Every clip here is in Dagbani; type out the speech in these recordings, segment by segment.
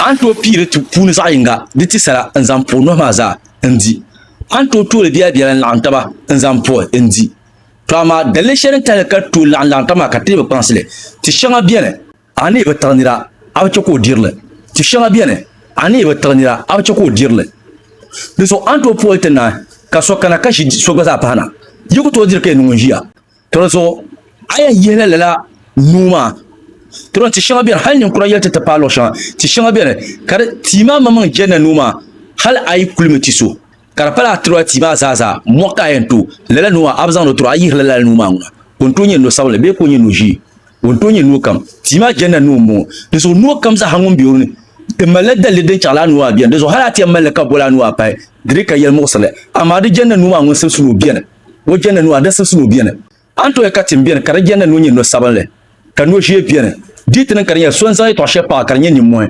A ni tooi pii di puuni zaɣ yinga di ti sala n-zaŋ puhi nohi maa zaa n-di. A ni tooi tooli biɛla biɛla n-laɣim taba n-zaŋ puhi n-di. Tɔ amaa daliri shɛli din tahili ka di tooi laɣim laɣim taba maa ka ti lee bi kpaŋsi li. Ti shɛŋa beni, a ni yi bi tiɣi nira, a bi chɛ ka o diri li. Ti shɛŋa beni, a ni yi bi tiɣi nira, a bi chɛ ka o diri li. Dinzuɣu a ni tooi puhi li ti naai ka so kana ka ʒi so gba zaa pahi na. Yi ku tooi diri ka yi niŋ o ʒiya. Dinzuɣu a yɛn yihila lala nuu maa. Diriɣi ti shɛŋa beni, hal ninkura yɛli ti ti paai luɣ shɛŋa. Ti shɛŋa beni, ka di tia maa maŋmaŋ jɛnna nuu maa, hal a yi kulimi ti so, ka di pala a tiriba tia maa zaazaa mɔɣu ka a yɛn to lala nuu maa, a bi zaŋdi o tiri o. A yihila lala nuu maa ŋuna, ka o ni tooi nyɛ no sabinli bee ka o nyɛ no ʒee, o ni tooi nyɛ no kam. Tia maa jɛnna nuu m-bɔŋɔ. Dinzuɣu no kam zaa ha ŋun be o ni, di malila daliri din chɛɣila a nuu maa beni. Dinzuɣu hal a ti yɛn mali li ka boli a nuu a pahi, di dii ka yɛlimuɣisirili. Amaa di jɛnna nuu maa ŋun simsi ni o beni. Ŋun jɛndi nuu, a di siɣisimi o beni. A ni tooi ka tim beni ka di jɛndi ni o nyɛ no sabinli, ka no ʒee beni. Di yi ti niŋ ka di nyɛla so n-zaŋ yɛtɔɣ shɛli paɣi ka di nyɛ nimmɔhi,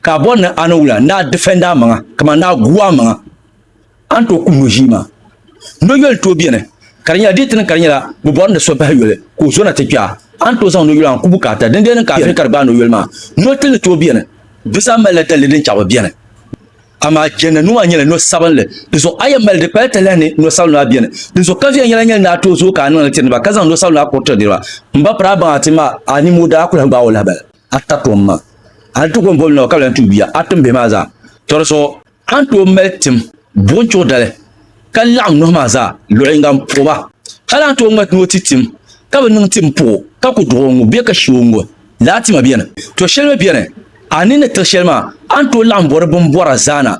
ka a bɔri ni a niŋ wula, ni a difɛndi a maŋa, kaman ni a gu a maŋa, a ni tooi kum no ʒii maa. No yoli n-tooi beni, ka di nyɛla di yi ti niŋ ka di nyɛla bɛ bɔri ni so bahi yoli ka o zo na ti kpe a, a ni tooi zaŋ no yoli maa n-ku bukaata. Dindina niŋ ka a vihi ka di gbaai no yoli maa. No tili ni tooi beni, di zaa malila dalili din chaɣi bɛ beni. Amaa jɛnli nuu maa nyɛla no sabinli, di zuɣu a yɛn mali di kpali talahi ni no sabinli maa beni. Di zuɣu kaviya nyɛla nyɛli ni a tooi zooi ka a niŋli tiri niriba ka zaŋ no sabinli maa kuri tiri niriba. M ba piri a baŋa ti ma a nimo daa kuli gbaai o lahi bala. A ta tom ma, a ni ti kom boli nawa ka bi lan tuui bia a tim bihi maa zaa. Tɔ di zuɣu a ni tooi mali tim buɣim chuɣu dali ka laɣim nohi maa zaa luɣ yiŋga m-puɣi ba. A lan tooi ŋmati ni o ti tim ka bi niŋ tim puɣi o ka ku duɣi o ŋu bee ka shi o ŋu. Laa tima beni, to shɛli mi beni, a ni ni tiri shɛli maa, a ni tooi laɣim bɔri bini bɔra zaa na.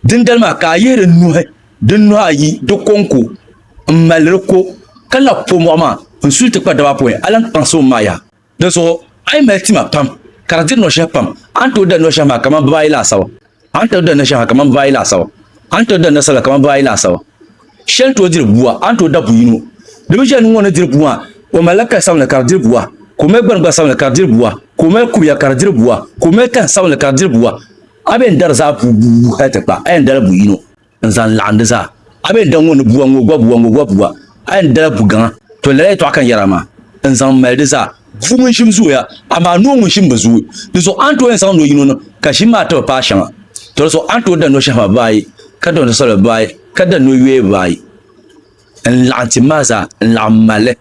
Dindali maa ka a yihi di nuhi, di nuhi ayi, di ko n-ko, m-mali di ko, ka labi po mɔɣu maa n-su li ti kpa daba apɔin, a lan kpaŋsi o m-maa yaha. Dinzuɣu a yi mali tima pam, ka di diri nɔshɛhi pam, a ni tooi dari nɔshɛhi maa kaman bibaayi laasabu. A ni tooi dandi shɛŋa kamani baayi laasabu, a ni tooi dandi sala kamani baayi laasabu. Shɛli ni tooi diri bua, a ni tooi da bu yino. Di mi shɛli ni ŋɔ ni diri bua, o malila kali sabinli ka di diri bua, ka o mali gbani gba sabinli ka di diri bua, ka o mali kubiya ka di diri bua, ka o mali tani sabinli ka di diri bua. A bɛn dari zaa buu buu hal ti kpa, a yɛn dala bu yino. n zaŋ laɣim di zaa. A mi ni daŋ ŋɔ ni bua ŋɔ gua bua ŋɔ gua bua, a yɛn dala bu gaŋa, to lala yɛtɔɣa ka n yɛra maa, n zaŋ mali di zaa. Bua ŋun ʒim zooya, amaa noo ŋun ʒim bi zooi. Di zuɣu a ni tooi yɛn zaŋ no yino niŋ ka ʒim maa ti bi paai shɛŋa. To di zuɣu a ni tooi da no shɛhi maa bibaayi, ka da no soli bibaayi, ka da no yoya bibaayi, n laɣim tim maa zaa, n laɣim mali li.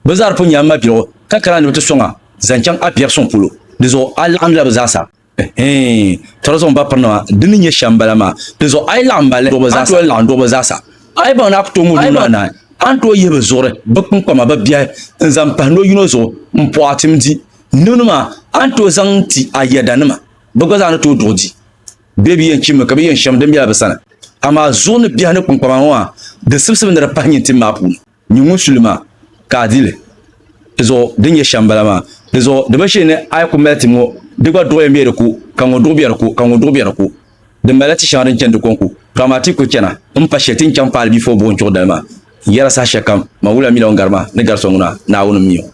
Bɛ zaa di pun nyɛla mabiligu, ka kana ni bɛ ti sɔŋ a zaŋ chaŋ a biɛri suŋ polo. Di zuɣu a laɣimdila bɛ zaasa. Ɛhɛɛn, tɔri zuɣu m-ba pirinima, di ni nyɛ shɛm bala maa. Di zuɣu a yi laɣim ba li, a ni tooi laɣim duɣi bɛ zaasa. A yi baŋ ni a ku tooi ŋub nuu anahi, a ni tooi yihi bɛ zuɣuri, bɛ kpiŋkpama, bɛ biɛhi n-zaŋ pahi no yino zuɣu m-puhi a tim di. Nimdi maa, a ni tooi zaŋ ti a yɛdanima, bɛ gba zaa ni tooi duɣi di. Bee bɛ yɛn chimmi ka bɛ yɛn shɛm din bela bɛ sani. Amaa zuɣu ni biɛhi ni kpiŋkpama ŋɔ maa, di sibisibi ni di pahi nyin tim maa puuni. Nyu ŋun su li maa, ka a di li. Di zuɣu din nyɛ shɛm m-bala maa. Di zuɣu di binshee ni a yi ku mali ti ŋɔ, di gba duɣiya m-be di ku, ka ŋɔ duɣi be di ku, ka ŋɔ duɣi be di ku. Di malila ti shɛŋa din chani di kɔŋku, ka amaa ti yi kul chana, m pa shili ti ni chaŋ paali bia fo buɣi n-chuɣi dali maa. N yɛra saha shɛlikam, man wula mila o ni gari maa, ni gari so ŋuna, Naawuni m-mi o.